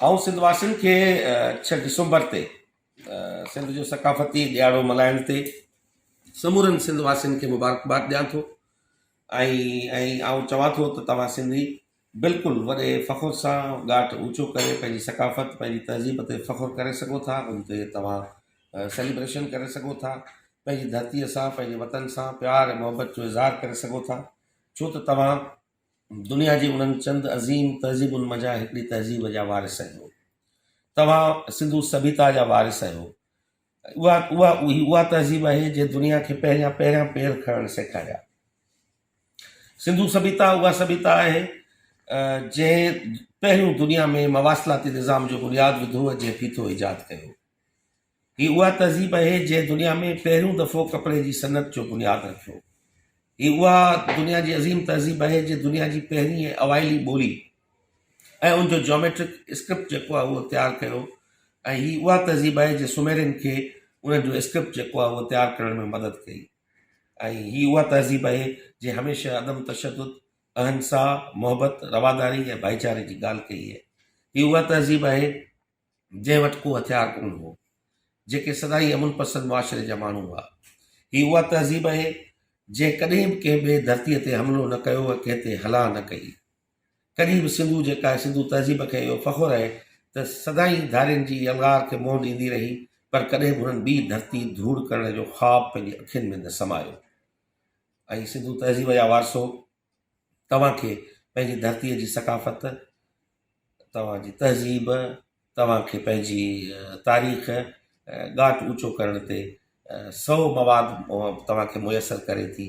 آئون سنڌ واسين کي ڇهه ڊسمبر تي سنڌ جو ثقافتي ڏياڙو ملهائڻ تي سمورن سنڌ واسين کي مبارڪباد ڏيان ٿو ۽ آئون چوان ٿو ته توهان سنڌي بلڪل وڏي فخر سان ڳاٽ اوچو ڪري پنهنجي ثقافت پنهنجي تهذيب تي فخر ڪري سگهو ٿا ان تي توهان سيليبريشن ڪري سگهو ٿا پنهنجي ڌرتي سان پنهنجي وطن سان پيار ۽ محبت جو اظهار ڪري سگهو ٿا ڇو ته توهان دنيا جي انهن چند عظيم تهذيبن مان جا هڪڙي تهذيب جا وارث آهيو. توهان سنڌو سڀيتا جا وارث آهيو. اها اها هي اها تهذيب آهي جنهن دنيا کي پهريان پهريان پير کڻڻ سيکاريا. سنڌو سڀيتا اها سڀيتا آهي جنهن پهريون دنيا ۾ مواصلاتي نظام جو بنياد وڌو ۽ جنهن فيٿو ايجاد ڪيو. هي اها تهذيب اهي جنهن دنيا ۾ پهريون دفعو ڪپڙي جي صنعت جو بنياد رکيو. هي اها دنيا جي عظيم تهذيب اهي جنهن دنيا جي پهرين ۽ اوائلي ٻولي ۽ ان جو جيوميٽرڪ اسڪرپٽ جيڪو آهي اهو تيار ڪيو ۽ هي اها تهذيب اهي جنهن سوميرين کي انهن جو اسڪرپٽ جيڪو آهي اهو تيار ڪرڻ ۾ مدد ڪئي ۽ هي اها تهذيب اهي جنهن هميشه عدم تشدد، اهنسا، محبت، رواداري ۽ ڀائيچاري جي ڳالهه ڪئي اهي اها تهذيب اهي. جنهن وٽ ڪو هٿيار ڪونه هو، جيڪي سدائين امن پسند معاشري جا ماڻهو هئا. هي اها تهذيب اهي، جنهن ڪڏهن به ڪنهن ٻئي ڌرتيء تي حملو نه ڪيو ۽ ڪنهن تي هلا نه ڪئي. ڪڏهن به سنڌو جيڪا آهي، سنڌو تهذيب کي اهو فخر اهي ته سدائين ڌارين جي يلغار کي منهن ڏيندي رهي، پر ڪڏهن به هنن ٻي ڌرتي ڌوڙ ڪرڻ جو خواب پنهنجي اکين ۾ نه سمايو ۽ سنڌو تهذيب يا وارثو توهان کي پنهنجي ڌرتيء جي ثقافت، توهان جي تهذيب، توهان کي پنهنجي تاريخ ڳاٽ اوچو ڪرڻ تي سو مواد توهان کي ميسر ڪري ٿي،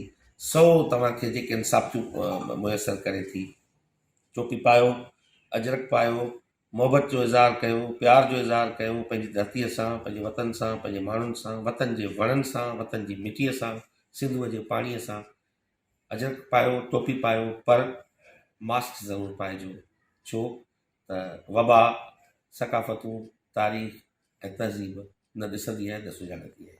سو توهان کي جيڪي انصافتيون ميسر ڪري ٿي. ٽوپي پايو، اجرڪ پايو، محبت جو اظهار ڪيو، پيار جو اظهار ڪيو پنهنجي ڌرتيء سان، پنهنجي وطن سان، پنهنجي ماڻهن سان، وطن جي وڻن سان، وطن جي مٽيء سان، سنڌوء جي پاڻيء سان، اجرڪ پايو، ٽوپي پايو پر ماسڪ ضرور پائجو ڇو ته وبا ثقافتون، تاريخ ۽ تهذيب نه ڏسندي ۽ نه سڃاڻندي آهي.